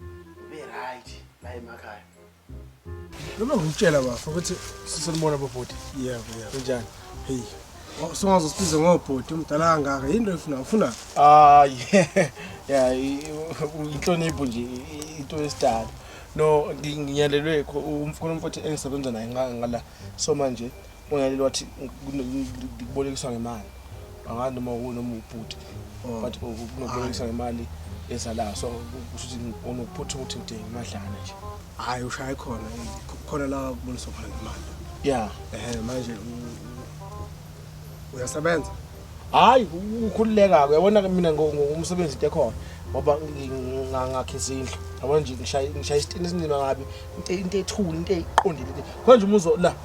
Ube-right la emakhaya. Noma ngikutshela bafo ukuthi sisenibona bobhuti. Yebo, yebo. Kunjani? Hey. Songaze usibize ngobhuti umdala kangaka. Yini lo ifuna? Ufuna? Ah, yeah. Yeah, inhlonipho nje into yesidala. No, ngiyalelwe umfuna umfowethu engisebenza naye ngala. So manje Unaleli wathi kubolekiswa ngemali angazi noma unoma ubhuti oh. but unokubolekisa ngemali ezalayo so kusho ukuthi unokuphutha ukuthi ngidinga imadlana nje hhayi ushaye khona khona la kuboniswa khona ngemali ya um manje uyasebenza hhayi ukhululeka-ke yabona mina ngumsebenzi into ekhona ngoba ngakhisa indlu yabona nje ngishaya isitini esinzima kabi into ethule into eyiqondile khona nje umuzo la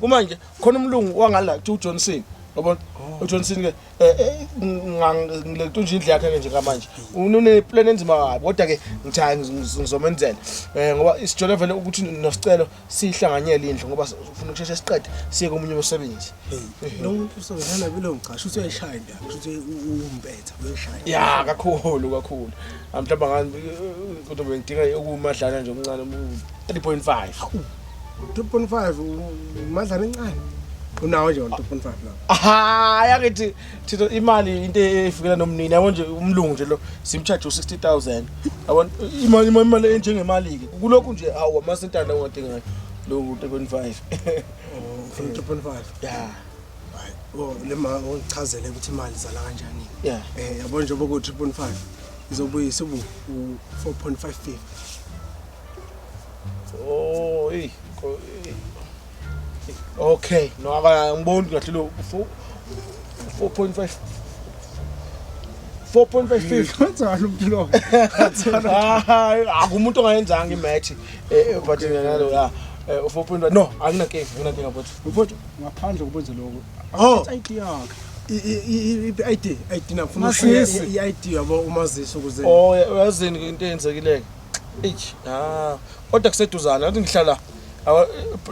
kumanje khona umlungu wangala kuthiwa ujohnson yabona oh. ujohnson ke eh, eh, ngilento nje indlu yakhe-ke nje kamanje uneplan enzima kabi kodwa-ke ngithaya ngizomenzela um ngoba isijole vele ukuthi nosicelo siyihlanganyele indlu ngoba ufuna ukusheshe siqede siye komunye umsebenzi kushuthi umpetha uyeshaya ya kakhulu kakhulu amhlamba ngani kodwa bengidinga ukumadlana nje omncane 3.5 3.5 umadlana encane unawo nje 3.5 la ha yakithi thina imali into efikela nomnini yabo nje umlungu nje lo simcharge u60000 yabo imali imali enjengemali ke kulokhu nje awu amasintana ongadingayo lo 3.5 3.5 yeah Oh, le ma ungichazele ukuthi imali zala kanjani. Yeah. Eh yabo nje boku 3.5 izobuyisa ubu 4.55. Oh, hey. Okay, no aka ngiboni kahle lo 4.5 4.55 kwenza umuntu lo hayi akumuntu ongayenzanga imatch eh, eh but nalo la 4.5 eh, no anginankinga anginankinga but Mfowethu ngaphandle kokwenza lokho. Oh. ID yakhe. I-ID, ID nafuna i-ID yabo umazisi ukuze. Oh, uyazini into eyenzekileke. Eish, ah, kodwa kuseduzana, ngathi ngihlala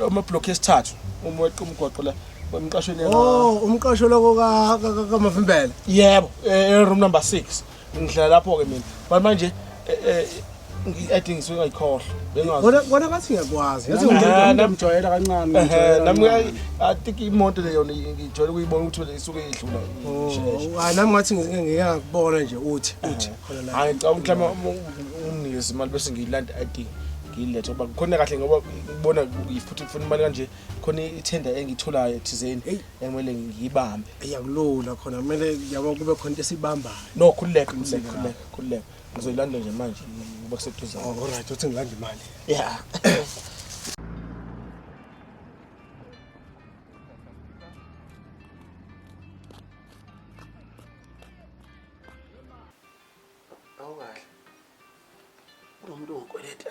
ama block esithathu uma weqa umgwaqo la emqashweni. Oh, umqasho lokho ka ka mavimbela. Yebo, e room number 6. ngihlala lapho-ke mina but manje eh, eh, ngi-ade ngisuke ngayikhohlwa bengazi Kona kona ngathi ngiyakwazi. Yazi Nah, ngimjwayela nam- ngimjwayela kancane. Ehhe, ngimjwayela nami kancane. kuya- I think imoto le yona ngijwayele ukuyibona ukuthi le isuke idlula Oh, hayi nami ngathi ngike ngike ngakubona nje uthi uthi khona la. hayi ngicabanga ukuthi lama umnikeza imali bese ngiyilanda id ngiyilethe ngoba khona kahle ngoba ngibona ngifutha ngifuna imali kanje khona ithenda engiyitholayo thizeni Eyi. ekumele ngiyibambe iyakulula khona kumele yabo kube khona into esibambayo no khululeka khululeka khululeka khululeka ngizoyilanda nje manje ngoba kuseduze oh, all right uthi ngilanda imali ya awukahle kunomuntu ongikweleta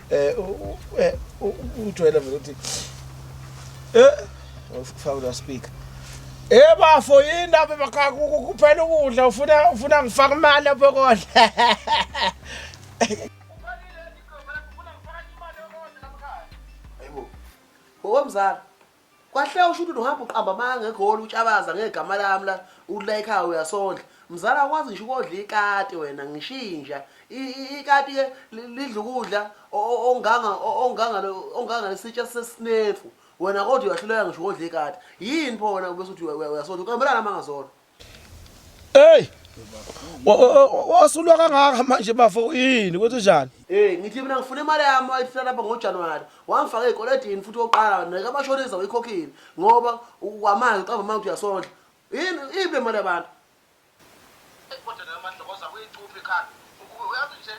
eh eh ujwayele vele ukuthi eh ufaka la speaker Eh bafo yini lapha emakhaya kuphela ukudla ufuna ufuna ngifaka imali lapho kodla Hayibo. Ngokomzala. Kwahle usho ukuthi uhamba uqamba amanga ngegoli utshabaza ngegama lami la ula ekhaya uyasondla. Mzala akwazi ngisho ukodla ikati wena ngishinja. Ikati ke lidla ukudla onganga onganga onganga lesitsha sesinefu. Wena kodwa uyahluleka ngisho ukodla ikati. Yini pho wena ubese uthi uyasondla uqambelana amanga zona. Hey! Wasulwa kangaka manje bafo yini ukuthi njani? Hey, ngithi mina ngifuna imali yami ayifuna lapha ngoJanuary. Wangifaka ezikolodini futhi oqala neka abashonisa uyikhokhile ngoba ukwamanje uqamba manje uyasondla. Yini ibe imali yabantu? Kodwa nami madlokoza kuyicupha ikhanda. Uyazi nje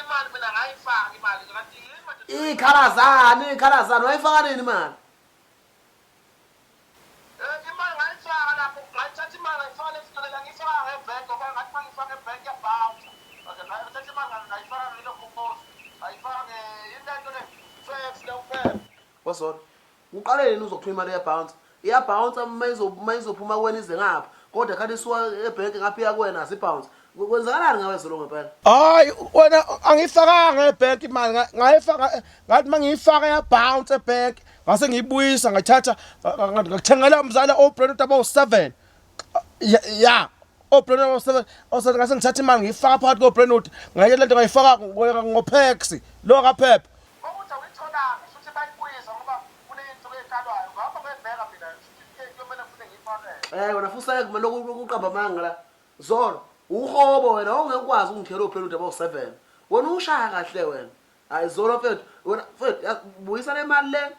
imali mina ngayifaka imali kanti yini manje? Ikhalazani, ikhalazani wayifaka nini imali? Wazona. Uqale yini uzophuma imali ya bounce? Iya bounce uma izo uma izophuma kuwena ize ngapha. Kodwa kade isuka ebhenki ngapha iya kuwena azi bounce. Kwenzakalani ngawe zolo ngempela? Hayi wena angifakanga ebank imali ngayifaka ngathi mangiyifaka ya bounce ebank ngase ngiyibuyisa ngayithatha ngathengela umzala obrand abawu7 ya obrand abawu7 osathi ngase ngithatha imali ngiyifaka phakathi kobrand ngayela lento ngayifaka ngopex lo kaphepha Eh wena futhi kumele ukuqamba amanga la. Zolo, uhobo wena wawungeke ukwazi ukungikhela ophela udaba u7. Wena ushaya kahle wena. Hayi zolo mfethu, wena mfethu yazi, buyisa le mali le.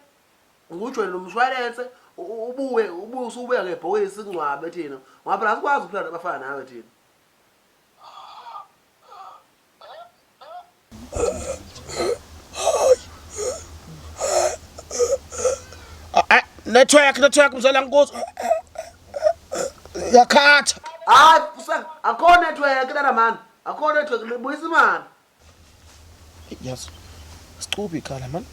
Ngujwele umshwalense u- u- ubuye ubuye usubuya ngebhokisi singcwabe thina. Ngoba phela asikwazi ukuphila nabafana nawe thina. network network mzala nkosi yakhatha hayi usa akho network lana mani akho network libuyisa imali yes sicubi khala mani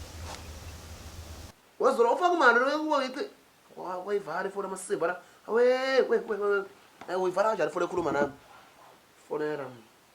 wazolo ufaka imali lokuba yithi wayivala ifoni amasimba la awe we we we uyivala kanjani ifoni ekhuluma nami fonela mna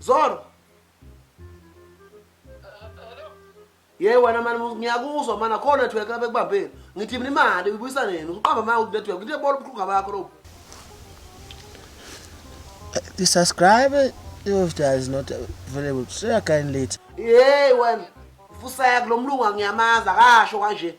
Zoro. Yey wena mani ngiyakuzwa mana kho network lapha ekubambeni. Ngithi mina imali uyibuyisa nini? Uqamba manje ukuthi network ngithe bolo ubukhuga bakho lobu. The subscriber of that is not available. Share kindly. Yey wena. Fuseka lo mlungu angiyamazi akasho kanje.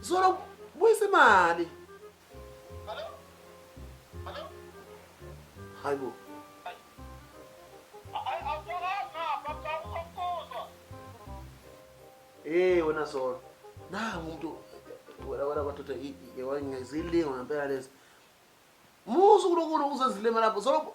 Zolo buyisa imali. Hello? Hello? Hayibo. Eh wena Zolo. Na umuntu wena wena kwathatha iwayengezilingo ngempela lezi. Musu kulokho uzezilema lapho. Zolo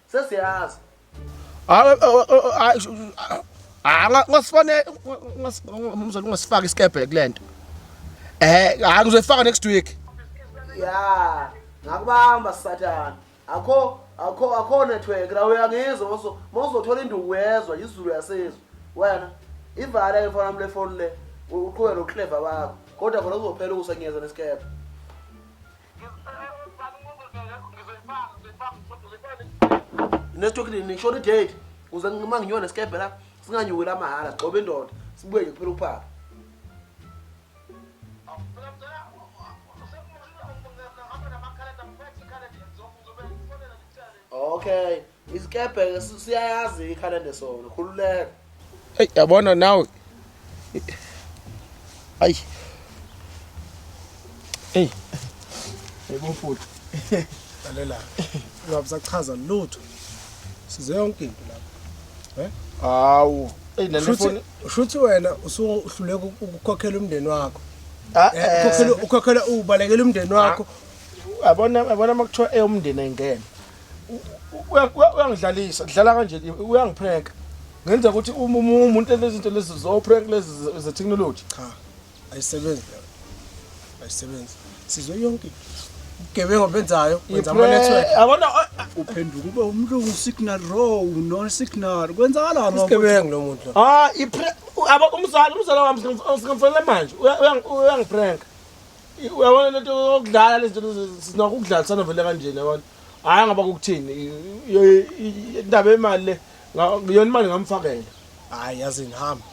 Sesiyazi. Hayi hayi ngasifanele umzali ungasifaka isikebhe kulento. Eh hayi ngizoyifaka next week. Yeah, ngakubamba sathana. Akho akho akho network la uyangizwa moso mozothola induku uyezwa izulu yasezwa. Wena ivale ke mfana wami le phone le uqhubeke nokuhleva bakho. Kodwa khona kuzophela ukusenyeza nesikebhe. nestoki nini ngishona idate uze uma nginyona nesikebhe la singanyuki la mahhala sigcobe indoda sibuye nje kuphela ukuphapha okay Isikebhe siyayazi ikhalende sona khululeka. Hey yabona nawe. Ay. Hey. Yebo mfuthu. Lalela. Ungabisachaza lutho. Size yonke into lapha. Eh? Hawu. Hey nene foni. Ushuthi wena usuhluleka ukukhokhela umndeni wakho. Ah, eh, eh. Ukhokhela ukhokhela ubalekela umndeni wakho. Ah, yabona yabona makuthiwa eyomndeni ayingene. uyangidlalisa kudlala kanje uyangipranka ngenza ukuthi uma umuntu lezinto lezi zoprank lezi ze-technology cha ayisebenzi leyo ayisebenzi sizwe yonke ubugebengu benzayo wenza ama-network yabona uphenduka ube umlungu usignal row non signal kwenzakalani isigebengu lo muntu lo ah umzali umzali wami singifonele manje uyangipranka uyabona lento yokudlala lezi zinto sinakho ukudlalisana vele kanjena yabona hhayi ngaba kukuthini indaba yemali le yona imali ngamfakela hhayi yazini hamba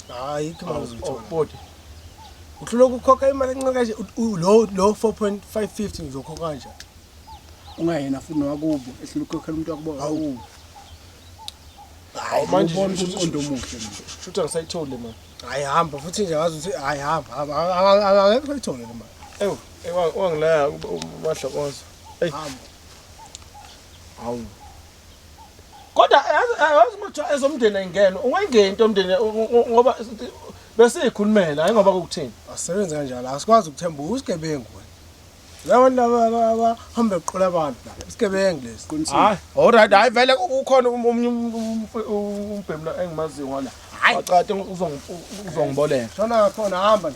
hhayi kmazithoauboti uhlula ukukhokha imali encane kanje lo lo 4.550 ngizokhokha kanje ungayena futhi nowakubo ehlula ukukhokhela umuntu wakubo awubo hayi manje umuntu omuhle futhi angisayitholi manje hayi hamba futhi nje ngazi ukuthi hayi hamba akekho ithole le mali ewu wangilaya ubadlokoza eyi hawu kodwa yazi mothiwa ezomndeni ayingene ungayingeni into omndeni ngoba besiyikhulumela hayi ngoba kukuthini asebenze kanjalo asikwazi ukuthemba usigebengu Yabo laba abahamba eqola abantu la. Isigebengu lesi. Hayi. Alright, hayi vele ukhona um- omunye um- um- um- umbhemu la engimaziyo ngala. Hayi. Wacate uzong- uzongiboleka. Shona khona hamba la.